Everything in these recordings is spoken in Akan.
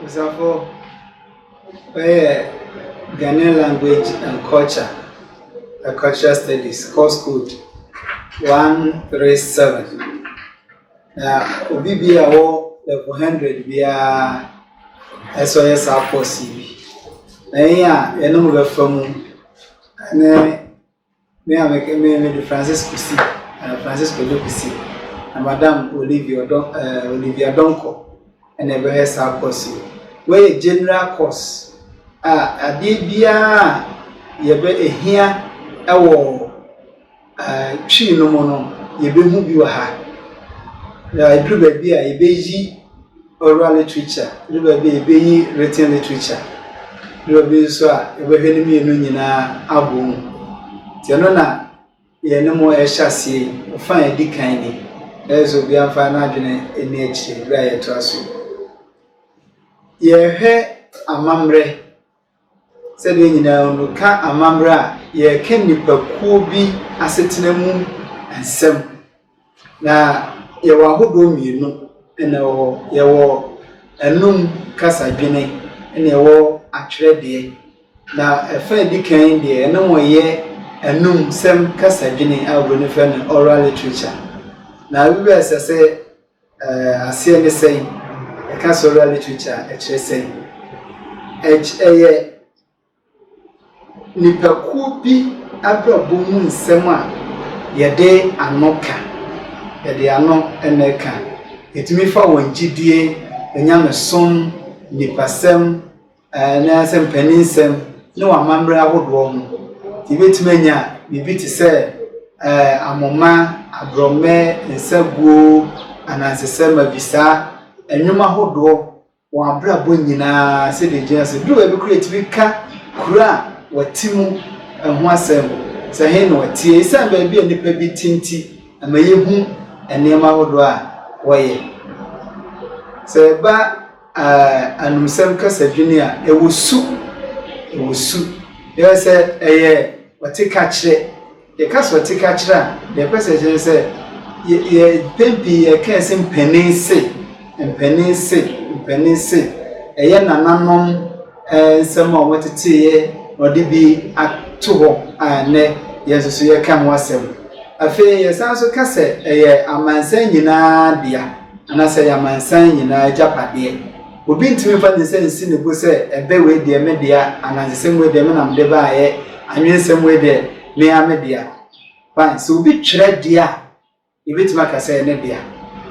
Osafo, wei yɛ Ghanaian language and culture and cultural studies course code one three seven. Na obi bi a ɔwɔ level hundred biara ɛsɛ ɔyɛ saa course yi bi. Na yɛn a yɛne mo bɛfa mu ne. Me a me me me de Francis Kusi, uh, Francis Kojo Kusi, na Madam Olivia Odon, uh, eh, Olivia Donko, ɛna ɛbɛyɛ saa course yi. Wɔyɛ general course a adeɛ biara a yɛbɛ ehia ɛwɔ uh, twi no mu no yɛbɛhu bi wɔ ha. Yɛaduru baabi a yɛbɛyi Oral literature ne baabi a yɛbɛyi written literature ne baabi nso a yɛbɛhwɛ ne mmienu nyinaa abɔ mu. Nti ɛno na yɛne mo ɛhyɛ aseɛ yi, ɔfa a ɛdi kan ni. Ɛyɛ sɛ obiara mfa n'adwene nni akyire berɛ a yɛtoa so yi. Yɛhwɛ amammerɛ Sɛdeɛ nyinaa mu no, ka amammerɛ a yɛreka nnipakuo bi asetena mu nsɛm. Na yɛwɔ ahodoɔ mmienu na ɛwɔ hɔ. Yɛwɔ anum kasadwene na yɛwɔ atwerɛdeɛ. Na ɛfa a ɛdi kan deɛ ɛne wɔn yɛ anumsɛm kasadwene a oburoni frɛ no oral literature. Na ɛsɛ sɛ Eh, aseɛ ne sɛn? Ɛka sɛ oral literature a, ɛkyerɛ sɛn? Ɛky ɛyɛ nipakuo bi abrabɔ mu nsɛm a yɛde ano ka, yɛde ano na ɛka. Ɛtumi fa wɔn gyidie, nyamesom, nipasɛm, anaasɛ mpaninsɛm ne wɔn amammerɛ ahodoɔ ho. Yɛbɛtumi anya biribi te sɛ ahoma, aborɔmɛ, nsaguo, anansesɛ, mavisa, nnwom ahodoɔ, wɔn abrabɔ nyina ara sɛdeɛ ɛgyina teɛ. Ɛduru baabi koraa a, ɛtumi ka kuro a wɔte mu ho asɛm, sɛ he na wɔteɛ. Ɛsiane baabi a nnipa bi te nti, ɛma yɛhu nneɛma ahodoɔ a wɔyɛ. Sɛ ɛba . Anumsɛm kasadwini a ɛwɔ su, ɛwɔ su. Yɛrɛ sɛ ɛyɛ ɔte ka kyerɛ. Yɛka sɛ ɔte ka kyerɛ a, deɛ ɛpɛ sɛ ɛkyerɛ ne sɛ yɛ yɛ mpɛn pii yɛka sɛ mpanin se, mpanin se, mpanin se. Ɛyɛ nananom. nsɛm a wɔteteeɛ na wɔde bi ato hɔ a ɛnnɛ yɛn nso so yɛka ho asɛm. Afei yɛsan nso ka sɛ ɛyɛ amansan nyinaa dea anaasɛ ɛyɛ amansan nyinaa agyapadeɛ. Obi ntumi mfa ne nsa nsi ne bo sɛ ɛbɛ wei deɛ me dea, anansesɛm wei deɛ me nam de baeɛ, anwensɛm wei deɛ me ara me dea. Fine, sɛ obi twerɛ deɛ a, Yebetumi aka sɛ ɛyɛ ne dea,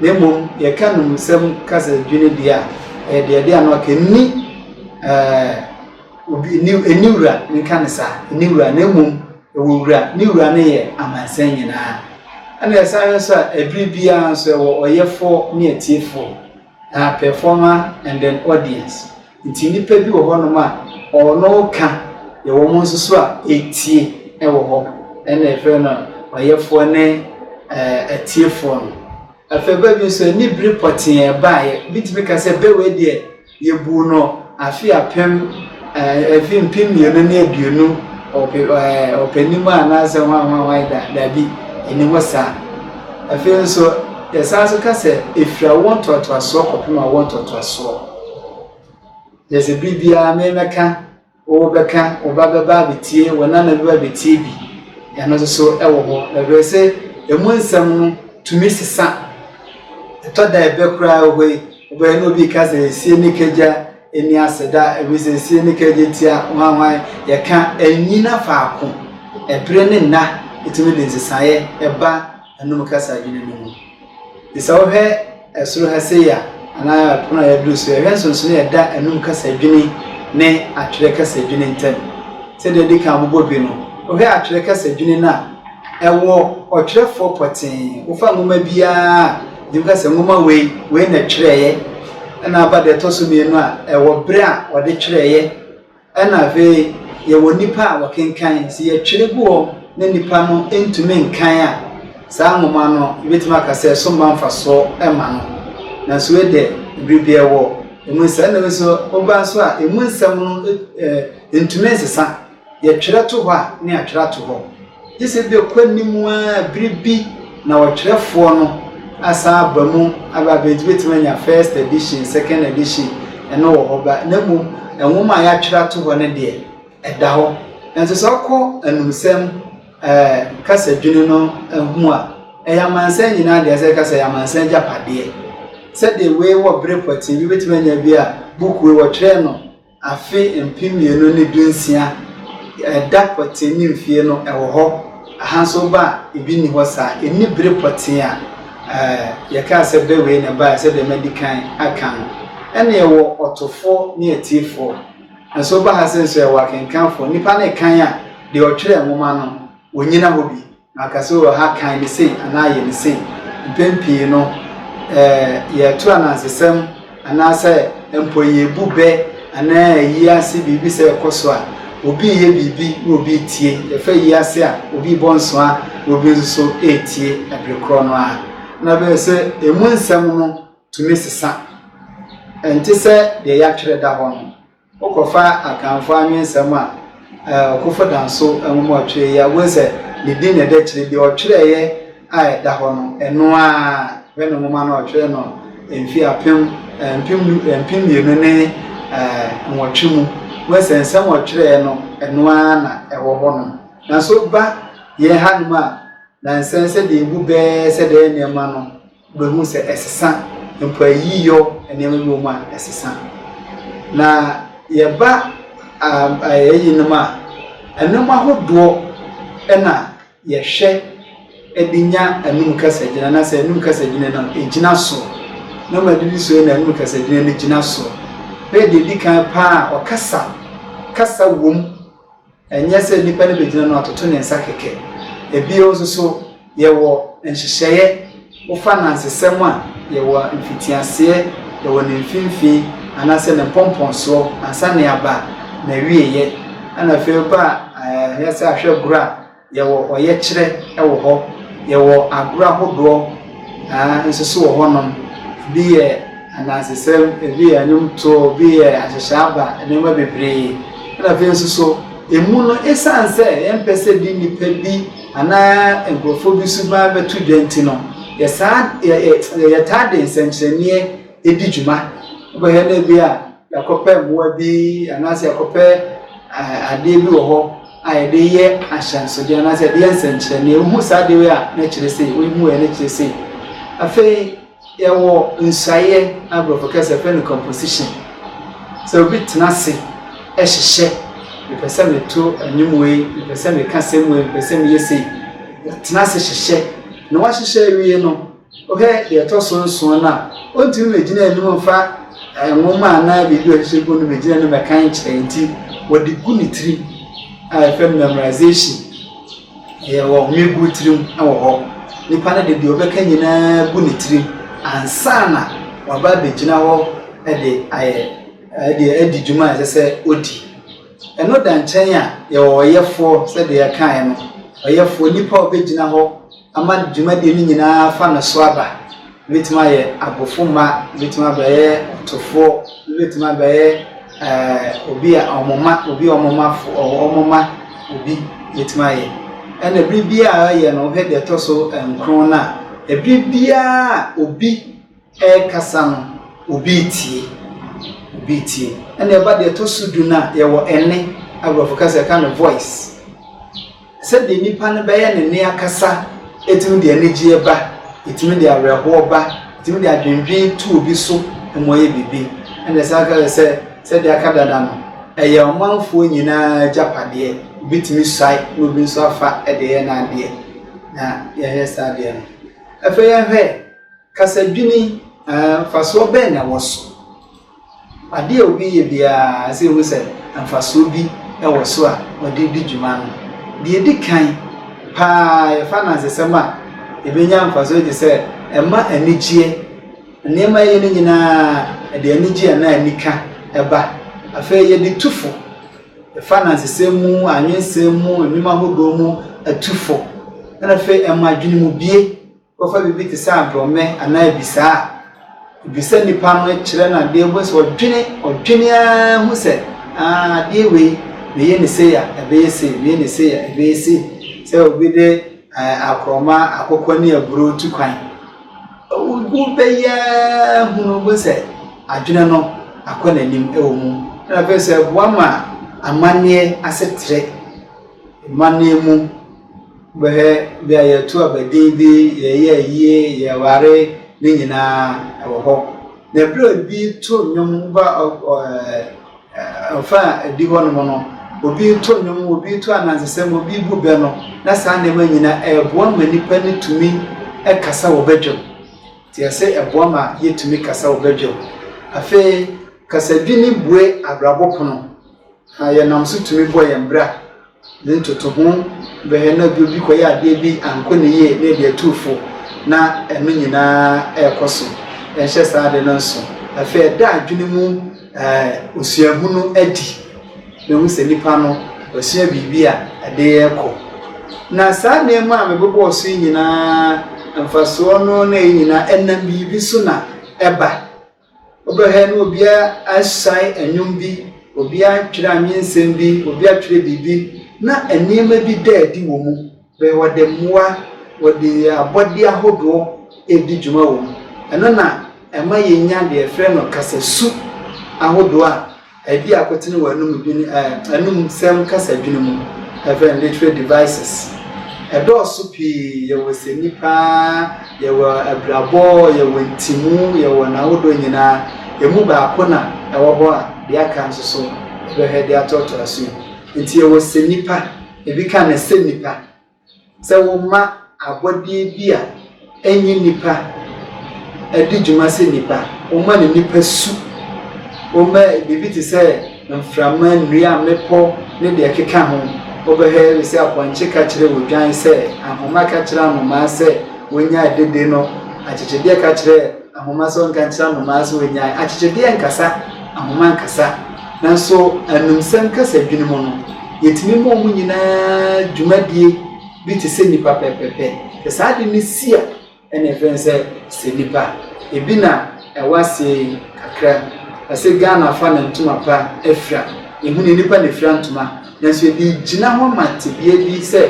na mmom yɛka nnommumsɛm kasa dwinnwen deɛ a, ɛyɛ deɛ ɛde ano aka. Ɛnni obi, ɛnni, ɛnni wura, menka no saa, ɛnni wura, na mmom ɛwɔ wura. Ne wura no yɛ amansan nyinaa. Ɛna ɛsan nso a, ɛbere biara nso ɛwɔ ɔyɛfoɔ ne atiefoɔ. Na performer and then audience nti nnipa bi wɔ hɔ nom a ɔno ka deɛ wɔn nso so a ɛretie ɛwɔ hɔ ɛna yɛfrɛ no ɔyɛfoɔ ne atiefoɔ no. Afei ba bi nso ɛne biri pɔtee ɛbaeɛ bɛtumi ka sɛ bɛ wei deɛ yɛbuu no afe apem afe mpem mmienu ne aduonu ɔpɛ ɔpɛ nim anaasɛ hwan hwan hwan da dabi ɛni hɔ saa. Afei nso, yɛsan nso ka sɛ ɛfiri awoɔ ntoatoasoɔ kɔpem awoɔ ntoatoasoɔ. Yɛ sɛ bere biara me mɛka, wo bɛka, wo ba bɛba abɛtie, wo nana bɛba abɛtie bi. Ɛno nso so wɔ hɔ. Ɛberɛ sɛ ɛmu nsɛm no tumi sesa. Ɛtɔ da ɛbɛ koraa wɔ hɔ yi, wobɛyɛ na obi reka sɛ ɛsie ne kagya, Nni aseda, efisɛ esie ne kaegyetia hwanhwan, yɛka nnyina faako, bere ne nna tumi de nsesaeɛ ba anom kasa adwene no mu. Nti sɛ wohwɛ soro ha sei a, anaa pono a yɛaduru so yi a, hwɛ nsonsonoeɛ a ɛda anom kasa adwene ne atwerɛ kasa adwene ntam. Sɛdeɛ adi kan abobɔ bi no, wohwɛ atwerɛ kasa adwene no a, ɛwɔ ɔtwerɛfoɔ pɔtee. Wofa nwoma biara a. Ebi ka sɛ nwoma wei, wei na ɛtwerɛeɛ, ɛna aba deɛ ɛtɔ so mmienu a, ɛwɔ berɛ a wɔde twerɛeɛ, ɛna afei yɛwɔ nnipa a wɔkenkan. Sɛ yɛtwerɛ gu hɔ na nnipa no ntumi nkan a, saa nwoma no yɛbɛtumi aka sɛ ɛso mma mfasoɔ mma no. Nanso wei deɛ, berɛ biara ɛwɔ ɛmu nsɛm. Ɛna wei nso, woba nso a, ɛmu nsɛm no ntumi nsesa. Yɛtwerɛ to hɔ a na yɛatwerɛ ato hɔ, gye sɛ bi a ɛkɔ anim ara bere bi na ɔtwerɛfoɔ no asan aba mu aba abɛ, nti bɛtumi anya first edition, second edition, ɛno wɔ hɔ ba, na mmom nwoma a yɛatwerɛ ato hɔ no deɛ, ɛda hɔ. Nanso sɛ ɔkɔ anumsɛm ɛɛ kasadwini no ho a, ɛyɛ amansan nyinaa deɛ sɛ kasa yɛ amansan agyapadeɛ. Sɛdeɛ wei wɔ bere pɔtee bi, bɛtumi anya bi a book wei wɔtwerɛɛ no Afe mpem mmienu ne du nsia ɛda pɔtee ne mfie no ɛwɔ hɔ aha nso woba a ebi nni hɔ saa ɛnni bere pɔtee a yɛkaa sɛ bɛ wei na ɛbaeɛ sɛdeɛ madi kan aka no ɛna yɛwɔ ɔtofoɔ ne atiefoɔ nso woba ha se nso yɛwɔ akenkanfoɔ nnipa no rekan a deɛ ɔtwerɛɛ nwoma no ɔnyina hɔ bi. Na ɔka sɛ, O ha, kae me sei anaa yɛ me sei. Mpɛn pii no, yɛreto anansesɛm anaasɛ mpo yɛrebu bɛ anaa yɛreyi ase biribi sɛ ɛkɔ so a, obi reyɛ biribi na obi retie. Yɛfa ayi ase a, obi rebɔ nsoa na obi nso so retie bere korɔ no ara. Na ɛbɛyɛ sɛ emu nsɛm no tumi sesa. Ɛnte sɛ deɛ yɛatwerɛ da hɔ no. Wokɔfa Akanfo anwensɛm a Ɔkofo Danso nwoma a ɔtwerɛɛ yi a, wobɛhu sɛ ne din na ɛda akyire. Deɛ ɔtwerɛeɛ a ɛda hɔ no, ɛno ara yɛ ne nwoma no a ɔtwerɛɛ no mfeɛ apem, mpem du, mpem mmienu ne nwɔtwe mu. Wobɛhu sɛ nsɛm a ɔtwerɛeɛ no, ɛno ara na ɛwɔ hɔnom. Nanso woba yɛn hanom a, nnansa yi sɛdeɛ ɛbu bɛɛ sɛ daa nneɛma no, Wobɛhu sɛ ɛsesa, mpo ayiyɔ nneɛma bi wɔ mu a ɛsesa. Na yɛba ayi nom a, nnoɔma ahodoɔ na yɛhwɛ de nya anum kasagyina anaasɛ anum kasagyina no gyina so. Nnoɔma bi bi so na anum kasagyina no gyina so. Bɛyɛ deɛ ɛdi kan paa a, ɔkasa, kasa wom. Ɛnyɛ sɛ nnipa no bɛgyina no atoto ne nsa kɛkɛ. Bio nso so, yɛwɔ nhyehyɛeɛ wofa anansesɛm a yɛwɔ a mfitiaseɛ, yɛwɔ ne mfimfini anaasɛ ne mpɔmpɔnsoɔ, ansa ne aba, n'awieeɛ, ɛna afei woba a ɛyɛ sɛ ahwɛgorɔ a yɛwɔ ɔyɛkyerɛ wɔ hɔ, yɛwɔ agorɔ ahodoɔ. Aah nso so wɔ hɔnom. Ebi yɛ anansesɛm, ebi yɛ nnwomtoɔ, ebi yɛ ahyehyɛ aba, nneɛma bebree. Ɛna afei nso so, emu no esiane sɛ yɛmpɛ sɛ ɛde nnipa bi anaa nkurɔfoɔ bi suban bɛto dwa nti no, yɛsaa yɛ yɛ yɛtaa de nsɛnkyerɛnneɛ di dwuma. Wobɛhwɛ no ebia yɛakɔpɛ mmoa bi anaasɛ yɛakɔpɛ adeɛ bi wɔ hɔ. a yɛde yɛ ahyɛnsode anaasɛ yɛde yɛ nsɛnkyerɛnne. Wohu saa adeɛ wei a, na ɛkyerɛ sei, wohu wei a, na ɛkyerɛ sei. Afei yɛwɔ nsuaeɛ a Borɔfo kasa yɛfrɛ no composition. Sɛ obi tena ase hyehyɛ, mepɛ sɛ meto nnwom wei, mepɛ sɛ meka asɛm wei, mepɛ sɛ meyɛ sei. Ɔtena ase hyehyɛ, na wahyehyɛ awie no, Wohwɛ deɛ ɛtɔ so nson no a, ɔntumi mmɛgyina anim mfa nwoma anaa biribi a ɔhyehyɛ gu no mmɛgyina anim mmɛka nkyerɛ nti wɔde gu ne tirim a yɛfrɛ no memorization ɛyɛ ɔhome gu tirim wɔ hɔ nipa no de deɛ ɔbɛka nyinaa gu ne tirim ansa na waba abɛgyina hɔ de ayɛ ɛde adi dwuma a ɛsɛ sɛ ɔdi ɛno da nkyɛn a yɛwɔ ɔyɛfoɔ sɛdeɛ yɛkaeɛ no ɔyɛfoɔ nipa a ɔbɛgyina hɔ Ama dwumadie no nyinaa fa no so aba. Wobɛtumi ayɛ abofomma, wobɛtumi abɛyɛ ɔtofoɔ, wobɛtumi abɛyɛ eh, obi a wɔn ma obi wɔn ma fo wɔn ma obi wobɛtumi ayɛ ɛna ɛbiri biara yɛ no wohwɛ deɛ ɛtɔ so nkron no a ɛbiri biara obi ɛrekasa no, obi retie, obi retie. Ɛna ɛba deɛ ɛtɔ so du no a, yɛwɔ ɛnne, aborɔfo kasa yɛka no voice. Sɛdeɛ nipa no bɛyɛ ne nne akasa, ɛtumi de anigyeɛ ba, ɛtumi de awerɛhoɔ ba, ɛtumi de adwendwen tu obi so ma ɔyɛ biribi. Ɛna ɛsan ka sɛ, sɛdeɛ aka dada no, ɛyɛ ɔmanfoɔ nyinaa agyapadeɛ, obi tumi suae na obi nso afa de yɛ n'adeɛ, na yɛhwɛ saa adeɛ no. Afei yɛhwɛ Kasadwini, Ɛɛ, mfasoɔ bɛn na ɛwɔ so? Adeɛ a obi yɛ biara, ɛsɛ sɛ yɛhu sɛ mfasoɔ bi wɔ so a ɔde redi dwuma no. Deɛ ɛdi kan paa, yɛfa anansesɛm a, yɛbɛnya mfasoɔ te sɛ ɛma anigyeɛ. Nneɛma a yɛyɛ no nyinaa, ɛde anigyeɛ anaa anika ba. Afei yɛde tu fo. Yɛfa anansesɛm mu, anwensɛm mu, nnwuma ahodoɔ mu tu fo. Ɛnna afei ɛma adwenemubue. Wɔfa biribi te sɛ adɔmmɛ anaa abisaa a, wobisa nipa no kyerɛ no adeɛ, wobɛhu sɛ ɔdwene, ɔdwene ara hu sɛ aah adeɛ wei, meyɛ no sei a, ɛbɛyɛ sei, meyɛ no sei a, ɛbɛyɛ sei. Sɛ obi de akorɔma, akokɔ ne aburoo tu kwan, wobɛyɛ ara hunu, wobɛhu sɛ adwene no akɔ n'anim wɔ mu. Ɛna afei nso ɛboa ma amanneɛ asetrɛ, amanneɛ mu. Bɛhwɛ bi a yɛto aba din bi, yɛyɛ ayie, yɛware ne nyinaa ɛwɔ hɔ. Na ɛberɛ a obi to nnwom ba ɔfa a ɛdi hɔ nom no, obi to nnwom, obi to anansesɛm, obi bu bɛ no, na saa nneɛma nyinaa ɛboa ma nipa no tumi kasa wɔ badwam. Nti ɛsɛ ɛboa ma yɛtumi kasa wɔ badwam. Afei kasadwini bue abrabɔ pono. Na yɛnam so tumi bɔ yɛn bra dze ntotoho bɛhwɛ na bi obi kɔyɛ adeɛ bi ankɔ ne yie na yɛde atu fo na ɛno nyinaa ɛrekɔ so. Yɛnhyɛ saa ade no nso. Afei ɛda adwene mu osuahu no adi. Bɛhu sɛ nipa no wasua biribi a ɛde rekɔ. Na saa nneɛma a mebobɔɔ so yi nyinaa mfasoɔ no na ɛyɛ nyinaa ɛnam biribi so na ɛba. Wobɛhwɛ na obiara asae nnwom bi, obiara atwerɛ anwensɛm bi, obiara atwerɛ biribi, na nneɛma bi da adi wɔ mu. Bɛyɛ wɔde mmoa, wɔde abɔdeɛ ahodoɔ redi dwuma wɔ mu. Ɛno na ɛma yɛnya deɛ yɛfrɛ no kasasu ahodoɔ a Adi a kotene wɔ anom dwene, eh, anumsɛm kasadwini mu, ɛfɛn literary devices. Ɛdɔɔso pii, yɛwɔ sɛni paa, yɛwɔ abirabɔ, yɛwɔ ntimu, yɛwɔ n'ahodoɔ nyinaa. Emu baako na ɛwɔ hɔ a deɛ aka nso so bɛhwɛ de atoatoa so yi. Nti yɛwɔ sɛnipa, ebi ka ne sɛnipa. Sɛ wɔma abɔdeɛ bi a ɛnyɛ nnipa di dwuma sɛ nnipa, wɔma no nnipa su, wɔma biribi te sɛ mframa, nnua, mmepɔ ne deɛ ɛkeka ho. Wobɛhwɛ bi sɛ apɔnkye ka kyerɛ odwan sɛ, ahoma ka kyerɛ anomaa sɛ wɔnnya adidi no, akyekyedeɛ ka kyerɛ Ahoma so nkankyerɛ nnomaa so ɔnyae akyekyedeɛ nkasa ahoma nkasa nanso anumsɛm kasadwini mu no, yɛtumi ma wɔn nyinaa dwumadie bi te sɛ nnipa pɛpɛpɛ. Sɛ saa de no si a, ɛna ɛfrɛ no sɛ sɛ nnipa. Ebi na ɛwɔ aseɛ yi kakra. Ɛsɛ Ghana fa na ntoma pa afira. Ɛhu ne nnipa na ɛfira ntoma. Nanso ebi gyina hɔ ma tebea bi sɛ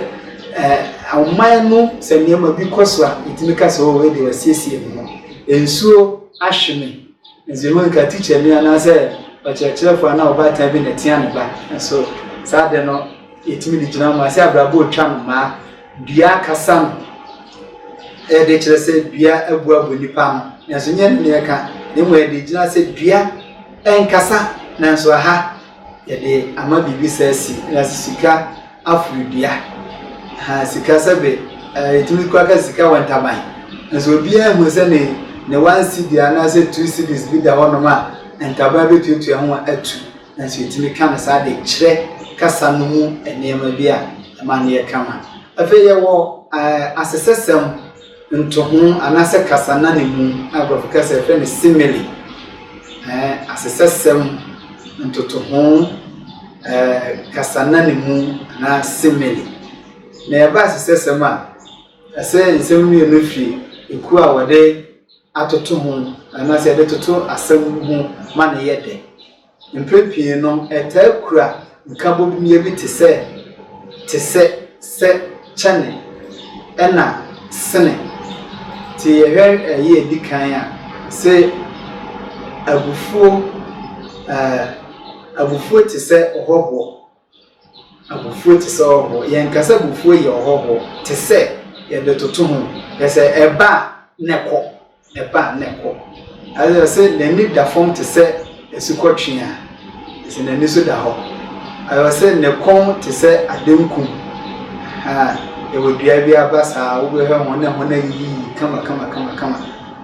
ɔman no sɛ nneɛma bi kɔ so a yɛtumi ka sɛ wei deɛ wɔasiesie ne ho. Nsuo ahwe me. Nanso yɛhu nka tikyani anaasɛ ɔkyerɛkyerɛfoɔ anaa ɔbaatan bi na ɛtea ne ba. Nanso saa de no yɛtumi de gyina hɔ ma sɛ abrabɔ retwa no maa dua akasa no ɛde kyerɛ sɛ dua abu abɔ nipa no. Nanso nyɛ ne na ɛka na mmom ɛde gyina sɛ dua ɛnkasa nanso aha Yɛde ama biribi sɛ si na sika aforo dua. Ahaa sika sɛbe ɛɛ yɛtumi kura ka sika wɔ ntaban. Nanso obiara nhu sɛ ne ne one cedi anaasɛ two cedis bi da hɔnom a ntaban bɛtuatua ho atu. Nanso yɛtumi ka no saa de kyerɛ kasa no mu nneɛma bi a ɛma no yɛ kama. Afei yɛwɔ ɛɛ asesɛsɛm. Ntoho anaasɛ kasa nanemu a nkurɔfo ka sɛ yɛfrɛ no simile, ɛɛ asesɛsɛm, ntotoho, ɛɛ kasa nanemu anaa simile. Na ɛba asesɛsɛm a, ɛsɛ nsɛm mmienu fi ekuo a wɔde atoto ho anaasɛ wɔde toto asɛm ho ma no yɛ dɛ. Mpɛn pii no, ɛtaa kura nkabomyɛ bi te sɛ te sɛ sɛ kyɛne ɛna sene. Nti yɛhwɛ ɛyɛ edi kan a, se abufuo, eh, abufuo te sɛ ɔhɔhoɔ. Abufuo te sɛ ɔhɔhoɔ. Yɛnka sɛ abufuo yɛ ɔhɔhoɔ te sɛ yɛde toto ho. Kyerɛ sɛ ɛba a na ɛkɔ, ɛba a na ɛkɔ. Ayɛ sɛ n'ani da fam te sɛ asukɔtweaa, ɛfiri sɛ n'ani so da hɔ. Ayɛ sɛ ne kɔn te sɛ adenku. Ahaa, yɛwɔ dua bi aba saa a, wobɛhwɛ ho na ɛho no ayiyiyi kama kama kama kama,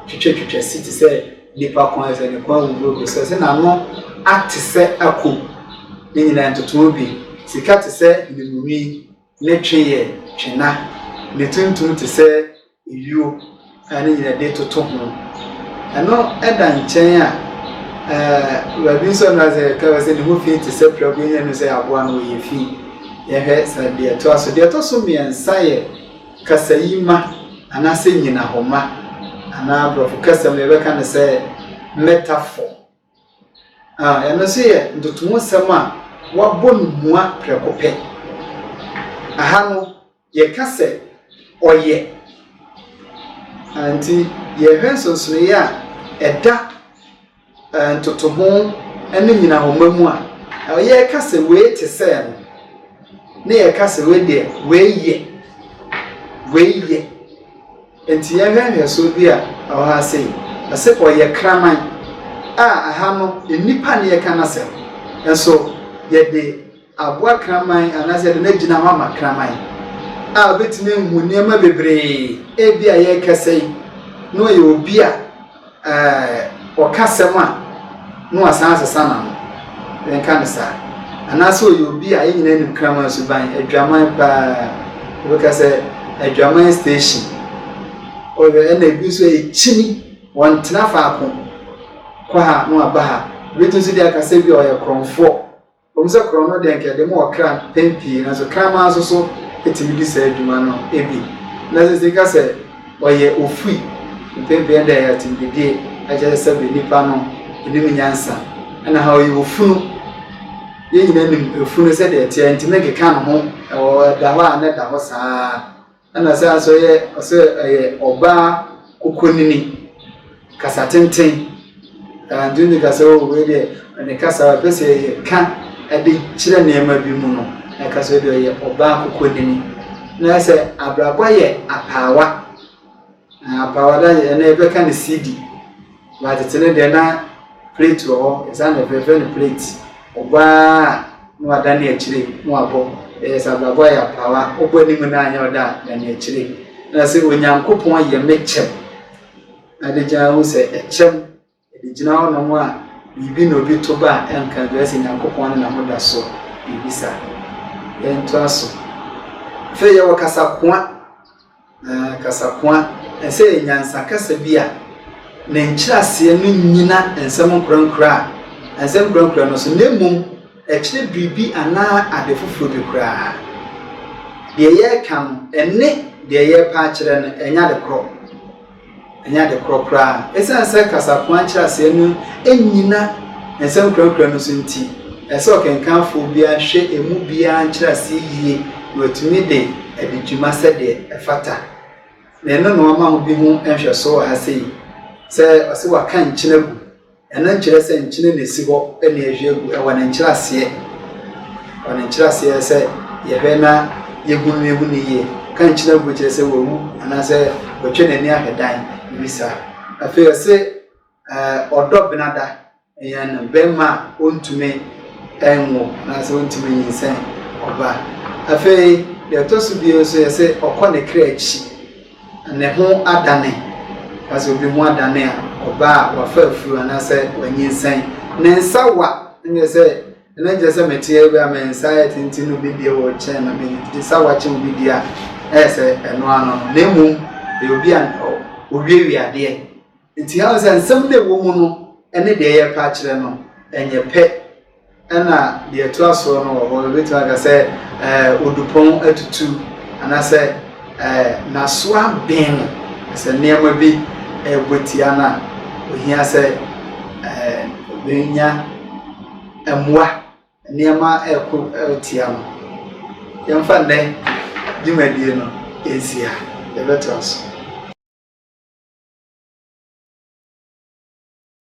twitwatwitwa si te sɛ. Nipa kɔn sɛ ne kɔn agugu agu sɛ sɛ n'ano ate sɛ ako, ne nyinaa ntotoho bi, sika te sɛ nwenunwi, ne twe yɛ twena, ne tuntum te sɛ ayuo a ne nyinaa de toto ho. Ɛno da nkyɛn a, ɛɛ baabi nso no asɛ ɛka sɛ ne ho fi te sɛ prɛko yɛnyɛ no sɛ aboa no ɔyɛ fi. Yɛhwɛ sɛ deɛ ɛtoa so. Deɛ ɛtɔ so mmiɛnsa yɛ Kasayima anaasɛ nyinahɔma anaa aborɔfo kasa mu yɛbɛka no sɛ metaphor. Ah, ɛno nso yɛ ntotoho nsɛm a wɔabɔ no mua prɛko pɛ. Aha no, yɛka sɛ ɔyɛ. Ah, nti yɛhwɛ nsonsonoeɛ a ɛda. Ntotoho ne nnyinahɔma mu a, yɛka sɛ wei te sɛ no, ne yɛka sɛ wei deɛ wei yɛ, wei yɛ. Nti yɛhwɛ nhwɛsoɔ bi a ɛwɔ ha sei, ɔse ɔyɛ kraman a, aha no nnipa ne yɛka no asɛm, nso yɛde. aboa kraman anaasɛ yɛde no agyina hɔ ama kraman a obetumi ahu nneɛma bebree. Ebia yɛrekasa yi, na ɔyɛ obi a eh, ɔka asɛm a na wasan asesa n'ano. Yɛnka no saa. Anaasɛ ɔyɛ obi a yɛn nyinaa nim kraman suban, adwaman paa. Wobɛka sɛ adwaman station. Ɔyɛ ɛna ebi nso a ekyini, wɔntena faako. Kɔ ha na waba ha. Ebetumi nso de aka sɛ bi a ɔyɛ korɔmfoɔ. Ɛwom sɛ korɔno de anka ɛde ma ɔkra mpɛn pii, nanso kraman nso so tumi di saa adwuma no bi. Na sɛ sika sɛ ɔyɛ ofui mpɛn pii ɛnna ɛyɛ atemdidie, ɛkyerɛ sɛ bɛ nipa no nim nyansa. Ɛna ha ɔyɛ ofunu. Yɛn nyinaa nim efunu sɛdeɛ ɛteɛ, ntumi nkeka ne ho, ɛwɔ ɛda hɔ a na ɛda hɔ saa. Ɛna saa nso yɛ ɔsɛ ɛyɛ ɔbaa kokonini kasa tenten ɛntumi kasa o wei deɛ ne kasa ɛpɛ sɛ ɛyɛ ka ɛde kyerɛ nneɛma bi mu no ɛka sɛ deɛ ɔyɛ ɔbaa kokonini na sɛ abrabɔ yɛ apaawa Na power da yɛ na yɛbɛka ne CD ba tete no deɛ na plate wɔ hɔ ɛsaa na ɛfɛfɛ no plate ɔbaa na wada ne akyire na wabɔ ɛyɛ sɛ abrabɔ ayɛ apawa wobɔ anim na anyɛ ɔda a da ne akyire na sɛ onyankopɔn yɛ me kyɛm na de gyina ho sɛ ɛkyɛm Yɛde gyina hɔnom a, biribi na obi to ba a ɛnka adwuma sɛ Nyankopɔn ne na ho da so, biribi saa. Yɛntoa so. Afei yɛwɔ kasakoa. Ɛɛ, kasakoa. Ɛsɛ yɛ nyansa kasa bi a ne nkyerɛaseɛ no nyina nsɛm nkorankora a nsɛm nkorankora no so, na mmom ɛkyerɛ biribi anaa ade foforɔ bi koraa. Deɛ yɛreka no, ɛne deɛ yɛrepɛ akyerɛ no, ɛnyɛ ade korɔ. Ɛnyɛ ade korɔ koraa. Esiane sɛ kasakoa nkyerɛaseɛ no nnyina nsɛm nkurakura no so nti, ɛsɛ sɛ ɔkenkanfoɔ biara hwɛ emu biara nkyerɛaseɛ yie na watumi de adi dwuma sɛdeɛ ɛfata. Na ɛno na wɔama ho bi ho nhwɛsoɔ wɔ ha sei, sɛ ɔse wɔaka nkyene agu. Ɛno nkyerɛ sɛ nkyene na ɛsi hɔ na yɛhwie agu. Ɛwɔ ne nkyerɛaseɛ. Ɛwɔ ne nkyerɛaseɛ sɛ yɛhwɛ na yɛhunu no yɛhu no yie. Ka nkyene agu kyerɛ sɛ wawu anaasɛ watwa n'ani ahwɛ dan, biribi saa. Afei ɔse ɔdɔ benada yɛn no, barima a ɔntumi nwo anaasɛ ɔntumi nyinsɛn ɔba. Afei deɛ ɛtɔ so bio nso yɛse ɔkɔ ne kra akyi. Ne ho adane, na sɛ obi ho adane a, ɔbaa a wafa afuru anaasɛ wanyinsɛn. Ne nsa wa, ɛnneɛ sɛ ɛno nkyerɛ sɛ mete agu a me nsa ayɛ tenten no bi deɛ wɔ kyɛn na me nsa wa kyɛn obi deɛ a, ɛyɛ sɛ ɛno ano no. Na mmom, ɛyɛ obi a ɔwiawia adeɛ. Enti yɛahu sɛ nsɛm no a ɛwɔ mu no ne deɛ yɛrepɛ akyerɛ no nyɛ pɛ. Ɛna deɛ ɛto asoɔ no wɔ hɔ, yɛbɛtumi aka sɛ ɛɛ odupɔn atutu anaasɛ ɛɛ n'aso abɛn no. Sɛ nneɛma bi ɛrebɔ tia no a, ohia sɛ ɛɛ obɛnya mmoa. Nneɛma reko tia no. Yɛmfa nnɛ dwumadie no nsi ha. Yɛbɛtoa so.